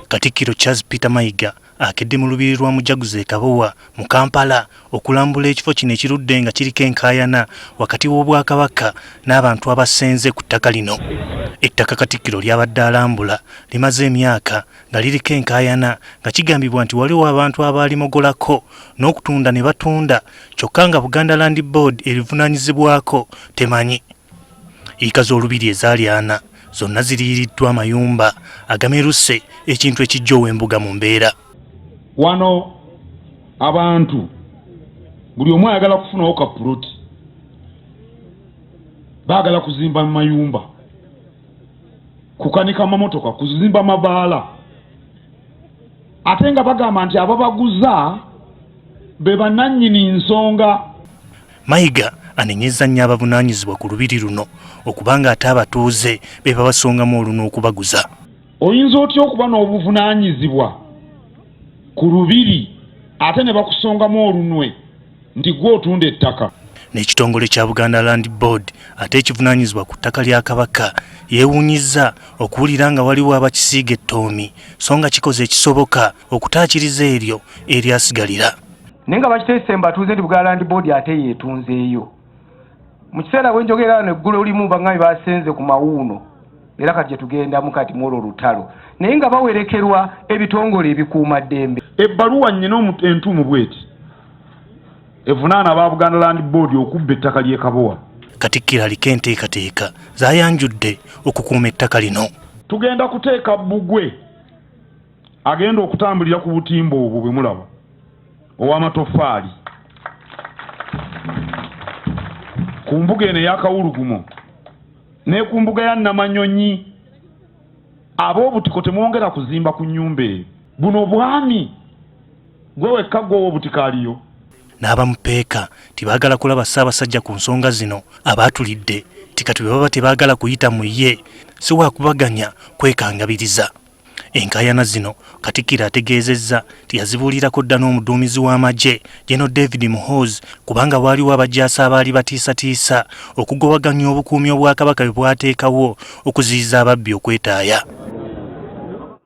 Katikkiro Charles Peter Mayiga akedde mu lubiri lwa Mujaguzo e Kabowa mu Kampala okulambula ekifo kino ekirudde nga kiriko enkaayana wakati w'Obwakabaka n'abantu abasenze ku ttaka lino. Ettaka Katikkiro ly'abadde alambula limaze emyaka nga liriko enkaayana nga kigambibwa nti waliwo abantu abaalimogolako n'okutunda ne batunda kyokka nga Buganda Land Board erivunaanyizibwako temanyi. Yiika z'Olubiri ezaali ana zonna ziriiriddwa amayumba agameruse ekintu ekijja ow'embuga mu mbeera wano abantu buli omu ayagala kufunawo ka puloti baagala kuzimba mu mayumba kukanika mamotoka kuzimba mabaala ate nga bagamba nti ababaguza be bananyini nsonga Mayiga anenyezza nnyo abavunaanyizibwa ku lubiri luno okuba ng'ate abatuuze be babasongamu oluno okubaguza. Oyinza otya okuba n'obuvunaanyizibwa ku lubiri ate ne bakusongamu olunwe nti gwe otunda ettaka? N'ekitongole kya Buganda Land Board ate ekivunaanyizibwa ku ttaka lya Kabaka yeewuunyizza okuwulira nga waliwo abakisiiga ettoomi so nga kikoze ekisoboka okutaakiriza eryo eryasigalira naye nga bakiteese mbatuuze nti bugalandi boodi ate yeetunzeeyo mu kiseera bwe njogera wano eggulu olimu bang'abi baasenze ku mawuuno era kati gyetugendamu kati mwolwo olutalo naye nga bawerekerwa ebitongole ebikuuma ddembe ebbaluwa nnyina entuumu bweti evunaana aba buganda land boodi okubba ettaka ly'ekabowa katikkiro aliko enteekateeka zayanjudde okukuuma ettaka lino tugenda kuteeka bbugwe agenda okutambulira ku butimba obwo bwe mulaba ow'amatoffaali ku mbuga eno ey'akawulugumo ne ku mbuga ya namanyonyi ab'obutiko temwongera kuzimba ku nnyumba eyo buno bwami gwe wekka gweowa obutiko aliyo n'abamupeeka tibaagala kulaba ssaabasajja ku nsonga zino abaatulidde nti kati bwe baba tebaagala kuyita mu ye si wakubaganya kwekangabiriza Enkaayana zino Katikkiro ategeezezza nti yazibuulirako dda n'omuduumizi w'amagye General David Muhoozi kubanga waaliwo abajaasi abaali batiisatiisa okugowaganya obukuumi Obwakabaka bwe bwateekawo okuziyiza ababbi okwetaaya.